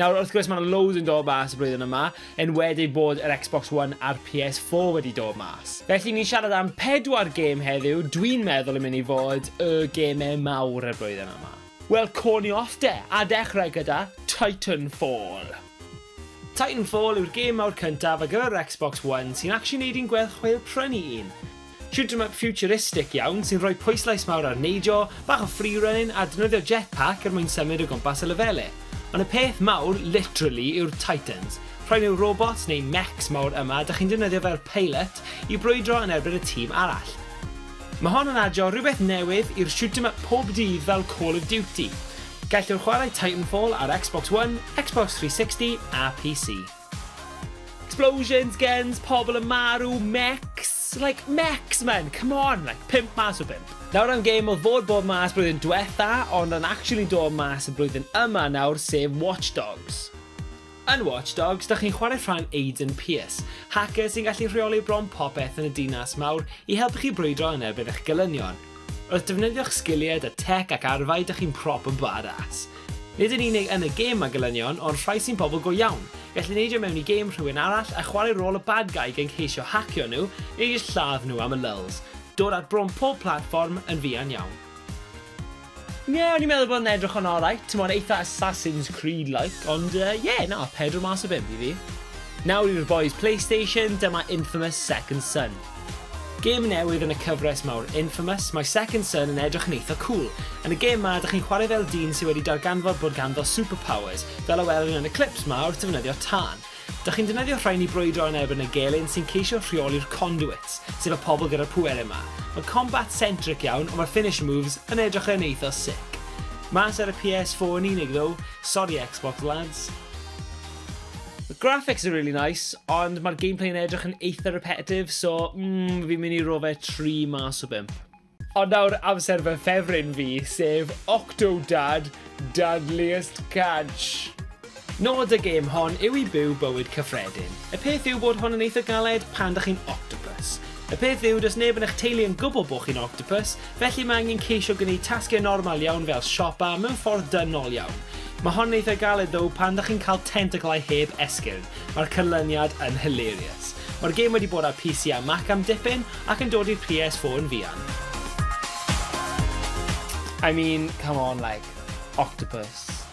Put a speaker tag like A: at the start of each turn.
A: Nawr, wrth gwrs, mae yna loads yn dod mas y blwyddyn yma, yn wedi bod yr Xbox One a'r PS4 wedi dod mas. Felly, ni'n siarad am pedwar gêm heddiw, dwi'n meddwl yn mynd i fod y gemau mawr y blwyddyn yma. Wel, co ni off de, a dechrau gyda Titanfall. Titanfall yw'r gêm mawr cyntaf ar gyfer yr Xbox One sy'n actually neud i'n gwell chweil prynu un. Shoot-em-up ffiwtiristig iawn sy'n rhoi pwyslais mawr ar neidio, bach o free-running a defnyddio jetpack er mwyn symud o gwmpas y lefele. Ond y peth mawr, literally, yw'r Titans. Rhain yw'r robots, neu mechs, mawr yma, dych chi'n defnyddio fel pilot i brwydro yn erbyn y tîm arall. Mae hon yn adio rhywbeth newydd i'r shoot-em-up pob dydd fel Call of Duty. Gellwch chwarae Titanfall ar Xbox One, Xbox 360 a PC. Explosions, guns, pobl yn marw, mechs, like, mechs men, come on, like, pump mas o bump. Nawr am game oedd fod bod mas blwyddyn dwetha, ond yn actually dod mas y blwyddyn yma nawr, sef Watch Dogs. Yn Watch Dogs, da chi'n chwarae rhan Aiden Pierce, hacker sy'n gallu rheoli bron popeth yn y dinas mawr i helpu chi brwydro yn erbyn eich gelynion. Wrth defnyddio'ch sgiliau da tech ac arfau, da chi'n prop yn badass. Nid yn unig yn y gêm mae gelynion, ond rhai sy'n bobl go iawn. Gallu neidio mewn i gêm rhywun arall a chwarae rôl y bad guy gan ceisio hacio nhw, neu jyst lladd nhw am y lulz. Dod at bron pob platfform yn fuan iawn. Ie, o'n i'n meddwl bod yn edrych yn alright, timod, eitha Assassin's Creed-like, ond yy, ie, na, pedwar mas o bump i fi. Nawr i'r bois Playstation, dyma Infamous Second Son. Gêm newydd yn y cyfres mawr Infamous, mae Second Son yn edrych yn eitha cŵl. Yn y gêm 'ma, ydych chi'n chwarae fel dyn sydd wedi darganfod bod ganddo superpowers, fel y welwn ni yn y clips 'ma wrth ddefnyddio tân. Dych chi'n defnyddio rhain i brwydro yn erbyn y gelyn sy'n ceisio rheoli'r Conduits, sef y pobl gyda'r pwerau 'ma. Mae'n combat-centric iawn, ond mae'r finisher moves yn edrych yn eitha sick. Mas ar y PS4 yn unig ddow, sori Xbox lads. The graphics are really nice, ond mae'r gameplay yn edrych yn eitha repetitive, so mm, fi'n mynd i ro fe 3 mas o 5. Ond nawr amser fy ffefryn fi, sef Octodad Deadliest Catch. Nod y gêm hon yw i byw bywyd cyffredin. Y peth yw bod hwn yn eitha galed pan da chi'n octopus. Y peth yw, does neb yn eich teulu yn gwybod bod chi'n octopus, Felly mae angen ceisio gwneud tasgau normal iawn fel siopa mewn ffordd dynol iawn. Mae hon yn eitha galed ddow pan dych chi'n cael tentaclau heb esgyrn, mae'r canlyniad yn hilarious. Mae'r gêm wedi bod ar PC a Mac am dipyn ac yn dod i'r PS4 yn fuan. I mean, come on like, octopus.